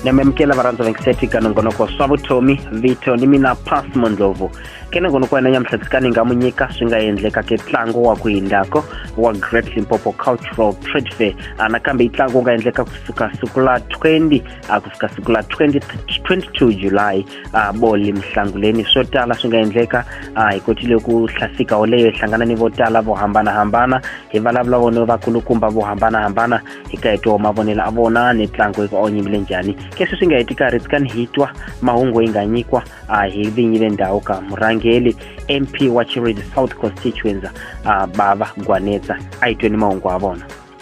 namemukela varhandza vekiseti ka nongonoko swa vutomi vito ni mina pas mondlovu ke nongonoko wena nyamhlatsi ni nga mu nyika swi nga endleka ke ntlangu wa ku hindako wa great limpopo cultural trade fair anakambe yi ntlangu wu nga endleka kusuka siku la 20 a ku fika siku la 20, 22 july a boli mhlanguleni swo tala swi nga endleka a hi kotile ku hlasika woleyo hi hlangana ni vo tala vo hambanahambana hi vulavula vona vakulukumba vo hambanahambana hi ka hi twa mavonelo a vona ni tlango yi ku onyimbile njhani keswi swi nga heti karhi tsikani hi twa mahungu yi nga nyikwa a hi vinyi le ndhawu ka murhangeli mp wa chiredi south constituency a bava gwanetsa a yi tweni mahungu a vona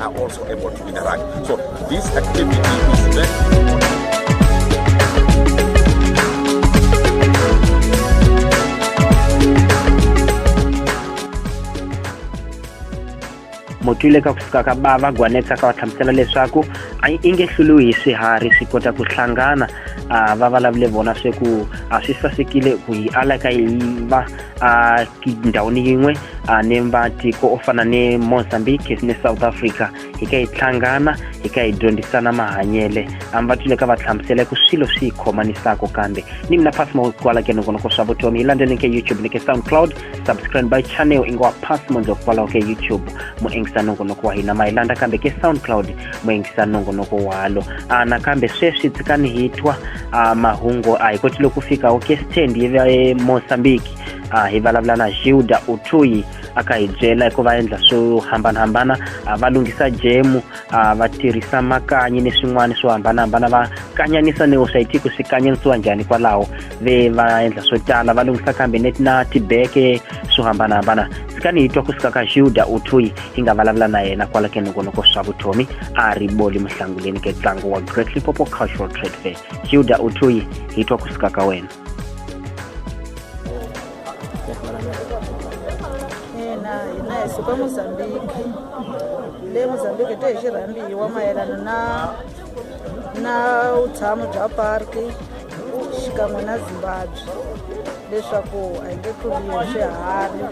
are also able to interact. So this activity is very motwile ka ku suka ka bava gwanetsa ka va hlamusela leswaku a yi inge hluluhi hi swiharhi swi kota ku hlangana va vulavule vona sweku a swi sasekile ku yi ala ka yi va ndhawini yin'we uh, ni matiko o fana ni mozambique ni south africa hi ka hi hlangana hi ka hi dyondzisana mahanyele ambatile ka va hlamusela ku swilo swi hi khomanisako kambe ni mina pasmo kwala ke nongonoko swa vutomi hi landzeni ke youtube ni ke soundcloud subscribe by channel i ngo pasmo ndlo kwalaho ke youtube mu engisa nongonoko wa hina ma hi landza kambe ke soundcloud mu engisa nongonoko walo a nakambe sweswi tsikani hi twa mahungu a hi kotile ku fika wo ke stand hi va emozambique a hi vulavula na hilda utuyi a ka hi byela hikuva endla swo hambanahambana va lunghisa jemu va tirhisa makanyi ni swin'wana swo hambanahambana va kanyanisa ni swa yitiko swi kanyanisiwa njhani kwalaho ve va endla swo tala va lunghisa kambe net na tibeke swo hambanahambana sikani hi twa ku suka ka hilda utuyi hi nga vulavula na yena kwala ke nongonoko swa vutomi a ri boli muhlanguleni ke ntlangu wa great lipopo cultural trade fair hilda utuyi hi twa ku suka ka wena ina hina hi suka mozambiki le mozambiki te hi xi rhambiwa mayelana na na vutshamo bya parki xikan'we na zimbabwe leswaku a hi nge tluriwi swiharhi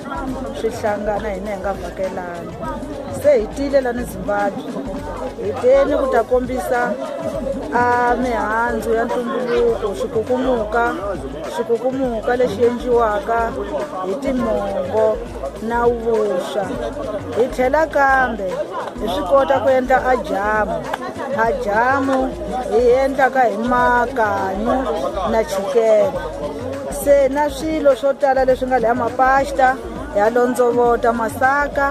swi hlangana hina hi nga vhakelani se hi tile lani zimbabwe hi teni ku ta kombisa a mihandzu ya ntumbuluko xikukumuka xikukumuka lexi endliwaka hi timongo na vuswa hi tlhela kambe hi swi kota ku endla ajamu ajamu hi endlaka hi makanyu na chikele se na swilo swo tala leswi nga leha mapasta ha londzovota masaka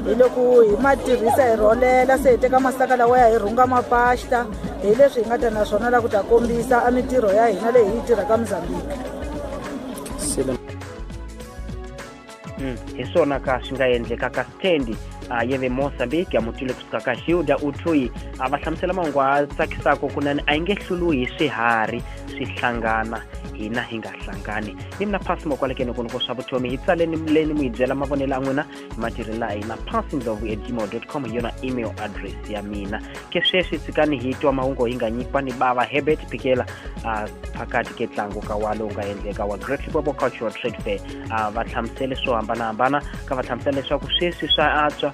hi loko hi ma tirhisa hi rholela se hi teka masaka lawaya hi rhunga mapasta hi leswi hi nga ta na swona la ku ta kombisa a mintirho ya hina leyi hi yi tirhaka mozambique hmm, hi swona ka swi nga endleka ka stendi a ye ve mozambique a mutwile kusuka ka hilda uthui a va hlamusela mahungu a tsakisaka kunene a yi nge hluluhi hi swiharhi swi hlangana hina hi nga hlangani ni mina phasi mokwalekeni ku ni ko swa vutomi hi tsaleni muleni mu hi byela mavonelo a n'wina hi matirhelo a hina phasi ndlovu at gmail dot com hi yona email address ya mina ke sweswi tshikani hi twa mahungu hi nga nyikiwa ni bava herbert pikela uh, phakati ke ntlangu ka wa lowu nga endleka wa great lipopo cultural trade fair uh, va hlamusele swo hambanahambana ka va hlamusela leswaku sweswi swa antswa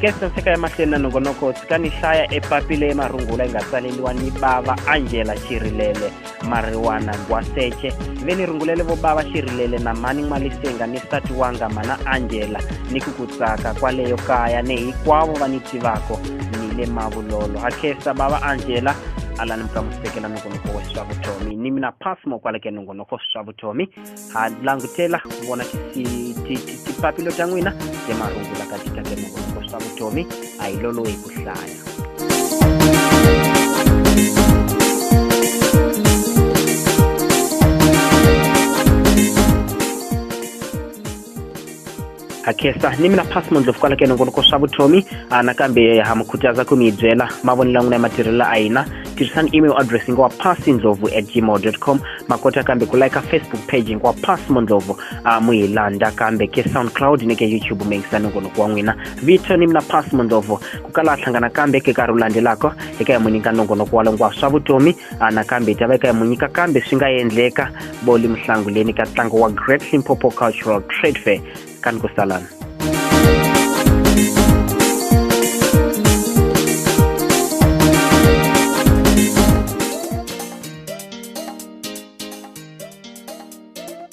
kesa seka emahlweni na nongonoko tshika ni hlaya epapi leyi marungula yi nga tsaleliwa ni bava angela xirilele mariwana ngwaseche ve ni rungulele vo bava xirilele na mani n'walisenga ni sati wanga mana angela ni ku ku tsaka kwaleyo kaya ni hikwavo va ni tivako ni le mavulolo ha kesa bava angela alani mukamusekela nongonoko wa swa vutomi ni mina pasmo kwaleke nongonoko swa vutomi ha langutela ku vona tipapilo ta n'wina hi marungula ka tika ke mavongo swa vutomi a hi lolohi ku hlaya ha khensa ni mina phasi mondlovu kwala ka nongonoko swa vutomi a nakambe ha mi khutaza ku mi byela mavonelo ya n'wina ya matirhelo a hina tirhisani email address yi nga wa phasi ndlovu at gmail com ma kota kambe ku like facebook page yi nga wa phasi mondlovu a mu hi landa kambe ke soundcloud ni ke youtube mi yingisa nongonoko wa n'wina vito ni mina phasi mondlovu ku kala hlangana kambe ke nkarhi wu landzelaka eka hi mu nyika nongonoko wa longwa swa vutomi a nakambe hi ta va eka hi mu nyika kambe swi nga endleka boli muhlanguleni ka ntlangu wa great limpopo cultural trade fair ka ni ku salana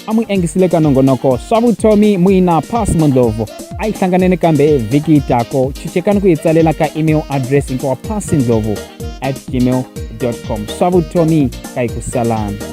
a mu engisile ka nongonoko swa vutomi muina pass mondlovo a yi hlanganene kambe vhiki yi tako chichekani ku yi tsalela ka email address hinkwawa pass ndlovu at gmail com swa vutomi ka yi ku salana